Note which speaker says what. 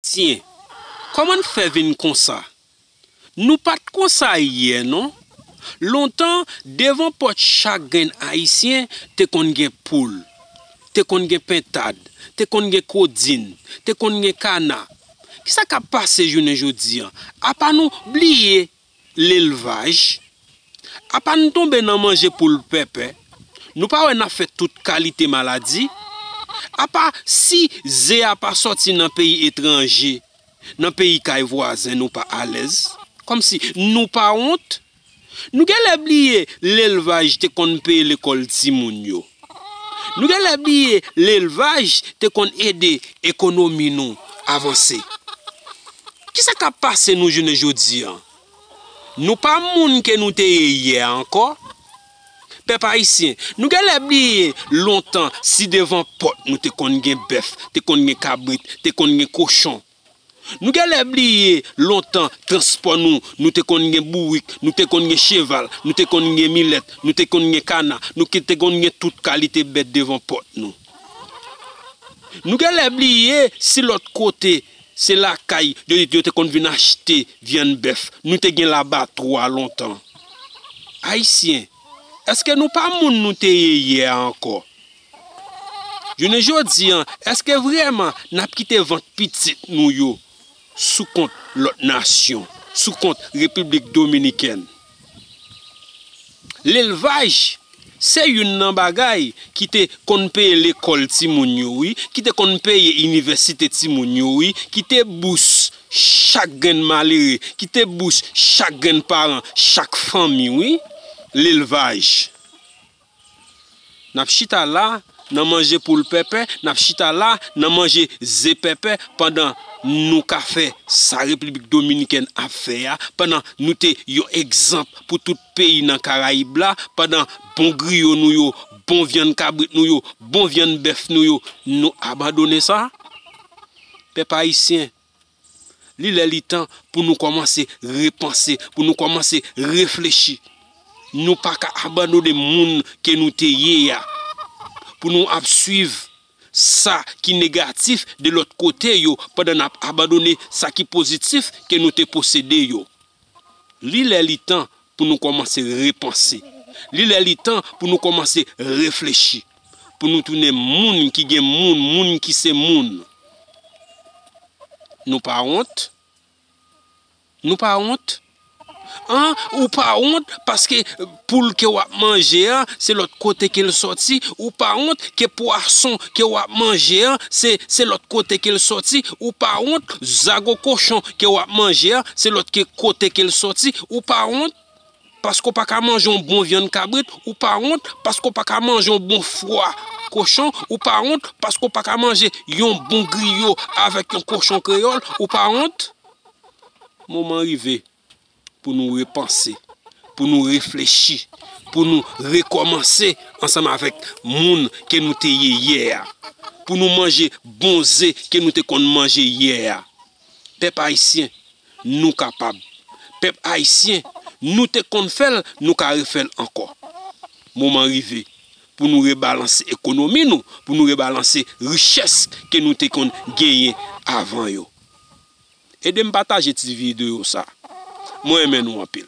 Speaker 1: Tyen, kòman n fè vin konsa? Nou pa t konsa yè non. Lontan, devan pòt chak grenn Ayisyen te konn gen poul, te konn gen pentad, te konn gen kodin, te konn gen kana. Ki sa k ap pase jounen jodi a? Apa nou bliye Lelvaj, apa n tonbe nan manje poul pèpè, nou pa wè n ap fè tout kalite maladi? Apa si ze a pa sòti nan peyi etranje, nan peyi kay vwazen nou pa alèz? Kòmsi nou pa wont? Nou genlè bliye lelvaj te konn peye lekòl timoun yo. Nou genlè bliye lelvaj te konn ede ekonomi nou avanse. Kisa kap pase nou jounen jodi an? Nou pa moun ke nou te ye yè a ankò. Pèp ayisyen, nou genlè bliye lontan si devan pòt nou te konn gen bèf, te konn gen kabrit, te konn gen kochon. Nou genlè bliye lontan transpò nou, nou te konn gen bourik, nou te konn gen cheval, nou te konn gen milèt, nou te konn gen kana, nou te konn gen tout kalite bèt devan pòt nou. Nou genlè bliye si lòt kote se lakay yo te konn vin achte vyann bèf, nou te gen labatwa lontan. Ayisyen, èske nou pa moun nou te ye yè a ankò? Jounen jodi an, èske vrèman n ap kite vant pitit nou yo sou kont lòt nasyon, sou kont Repiblik Dominikèn? Lelvaj se youn nan bagay ki te konn peye lekòl timoun yo wi, ki te konn peye inivèsite timoun yo wi, ki te bous chak grenn malere, ki te bous chak grenn paran, chak fanmi wi, lelvaj. N ap chita la nan manje poul pèpè, n ap chita la nan manje ze pèpè pandan nou ka fè sa Repiblik Dominikèn ap fè a, pandan nou te yon egzanp pou tout peyi nan Karayib la, pandan bon griyo nou yo, bon vyann kabrit nou yo, bon vyann bèf nou yo, nou abandone sa? Pèp Ayisyen, Li lè li tan pou nou kòmanse repanse, pou nou kòmanse reflechi. Nou pa ka abandone moun ke nou te ye a, pou nou ap swiv sa ki negatif de lòt kote yo pandan n ap abandone sa ki pozitif ke nou te posede yo. Li lè li tan pou nou kòmanse repanse. Li lè li tan pou nou kòmanse reflechi. Pou nou tounen moun ki gen moun, moun ki se moun. Nou pa wont? Nou pa wont? An, ou pa wont paske Poul ke wap manje an se lòt kote ke l sòti, ou pa wont ke pwason ke wap manje an se se lòt kote ke l sòti, ou pa wont zago kochon ke wap manje an se lòt ke kote ke l sòti, ou pa wont paske w pa ka manje yon bon vyann kabrit, ou pa wont paske w pa ka manje yon bon fwa kochon, ou pa wont paske w pa ka manje yon bon griyo avèk yon kochon kreyòl, ou pa wont. Moman rive. pou nou repanse, pou nou reflechi, pou nou rekòmanse ansanm avèk moun ke nou te ye yè a, pou nou manje bon ze ke nou te konn manje yè a. Pèp Ayisyen, nou kapab. Pèp Ayisyen, nou te konn fè l, nou ka refè l ankò. Moman rive pou nou rebalanse ekonomi nou, pou nou rebalanse richès ke nou te konn genyen avan yo. Edem pataje ti video sa. Mwen renmen nou anpil.